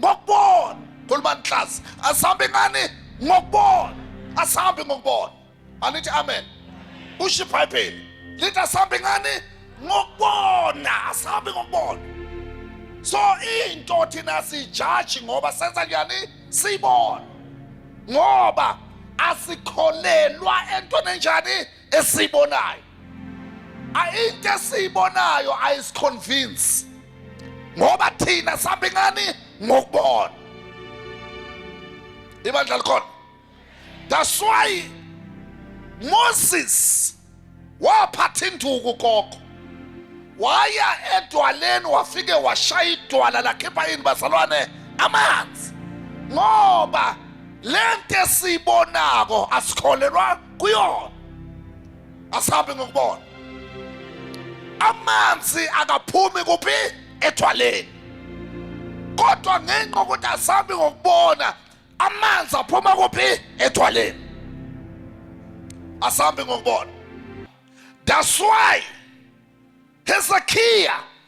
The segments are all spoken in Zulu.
ngokubona khuluma nhlasi asambe ngani ngokubona asambe ngokubona anithi amen usho ibhayibheli lithi asambe ngani ngokubona asambe ngokubona so into thina sijaji ngoba senza njani siyibona ngoba asikholelwa entweni enjani esiyibonayo into esiyibonayo ayisiconvince ngoba thina sambe ngani ngokubona ibandla likhona that's why Moses waphatha induku koko waya edwaleni wafike washaya idwala lakhipha yini bazalwane amanzi ngoba lento esiyibonako asikholelwa kuyona asabe ngokubona amanzi akaphumi kuphi ethwaleni kodwa ngenxa ukuthi asabi ngokubona amanzi aphuma kuphi ethwaleni asambi ngokubona that's why hezekiya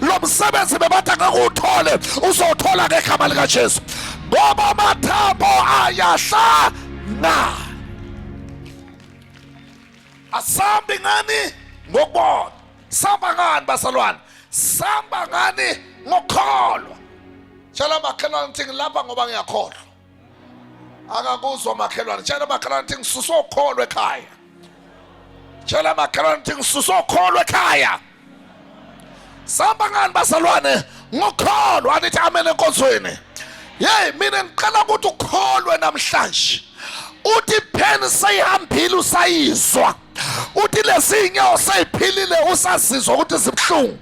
lo msebenzi bebathi angeke uwuthole uzowuthola ngegama likajesu ngoba amathambo ayahlana asambi ngani ngokubona samba ngani basalwane samba ngani ngokukholwa tshela makhelwane ukuthi ngilapha ngoba ngiyakholwa akakuzwa makhelwane tshela makhelwane ukuthi ngisusa ukholo ekhaya tshela makhelwane ukuthi ngisusa ukholo ekhaya sihamba ngani bazalwane ngokholo anithi amen enkonzweni yeyi mina ngicela ukuthi ukholwe namhlanje uthi pheni seyihambile usayizwa uthi lezi nyawo seyiphilile usazizwa ukuthi zibuhlungu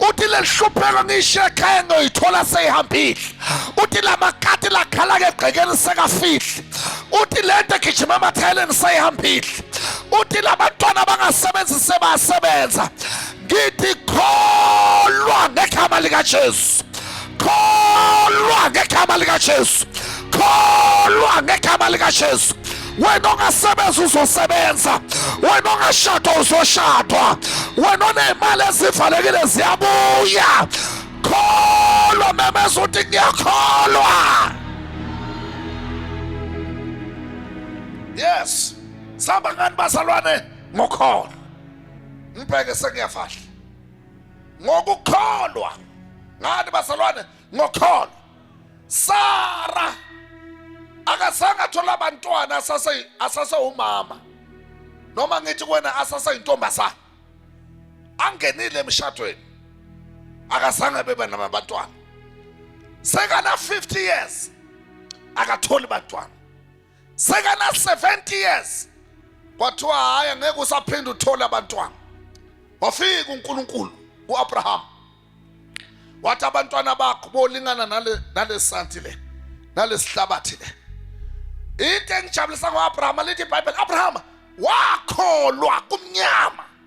uthi lelihlupheko ngishiye ekhaya ngoyithola seyihambile uthi lamakati lakhala ke egqekeni sekafihli uthi lento egijima emathayeleni seyihambile uthi labantwana bangasebenzi sebasebenza ngithi kholwa ngegama likaJesu kholwa ngegama likaJesu kholwa ngegama likaJesu wena ongasebenza uzosebenza wena ongashadwa uzoshadwa wena onemali ezivalekile ziyabuya kholwa memeza ukuthi ngiyakholwa yes saba ngani bazalwane ngokholo ngibheke sengiyafahla ngokukholwa ngani basalwane ngokholwa Sara akazange athola abantwana asase asase umama noma ngithi kuwena asase intombazana angenile emshadweni akazange bebe namabantwana sekana 50 years akatholi bantwana sekana 70 years kwathiwa hayi ngeke usaphinde uthole abantwana wafika uNkulunkulu kuAbraham wathi abantwana bakho bolingana nale nalesanti le nalesihlabathi le into engijabulisa ngoAbraham lithi iBhayibheli Abraham wakholwa kumnyama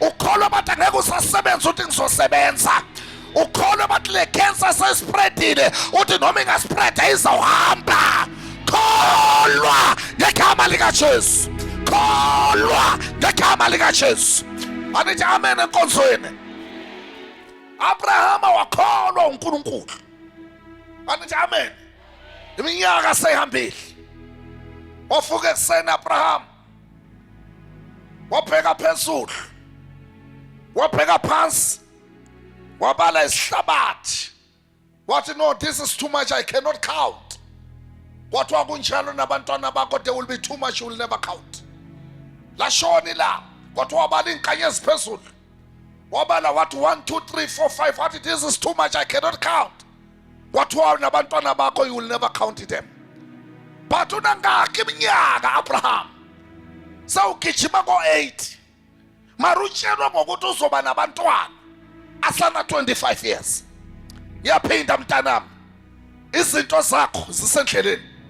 ukholwa bathi angeke usasebenza uthi ngizosebenza ukholwa bathi le cancer sespreadile uthi noma ingaspreada izawuhamba kholwa ngegama likajesu kholwa ngegama likajesu anithi amen enkonzweni abrahama wakholwa unkulunkulu anithi amen iminyaka seyihambile wafuka ekuseni abrahama wabheka phezulu wabheka phansi wabala isihlabathi wathi no this is too much i cannot count kwathiwa kunjalo nabantwana bakho they will be too much you will never count lashoni la kwathiwa wabala iinkanye eziphezulu wabala wathi 1 2 3 4 5 wathi this is too much i cannot count kwathiwa nabantwana bakho you will never count them but unangakhi iminyaka abraham sawugijima ko-8 mara utshelwa ngokuthi uzoba nabantwana asana-25 years yaphinda mntanami izinto zakho zisendleleni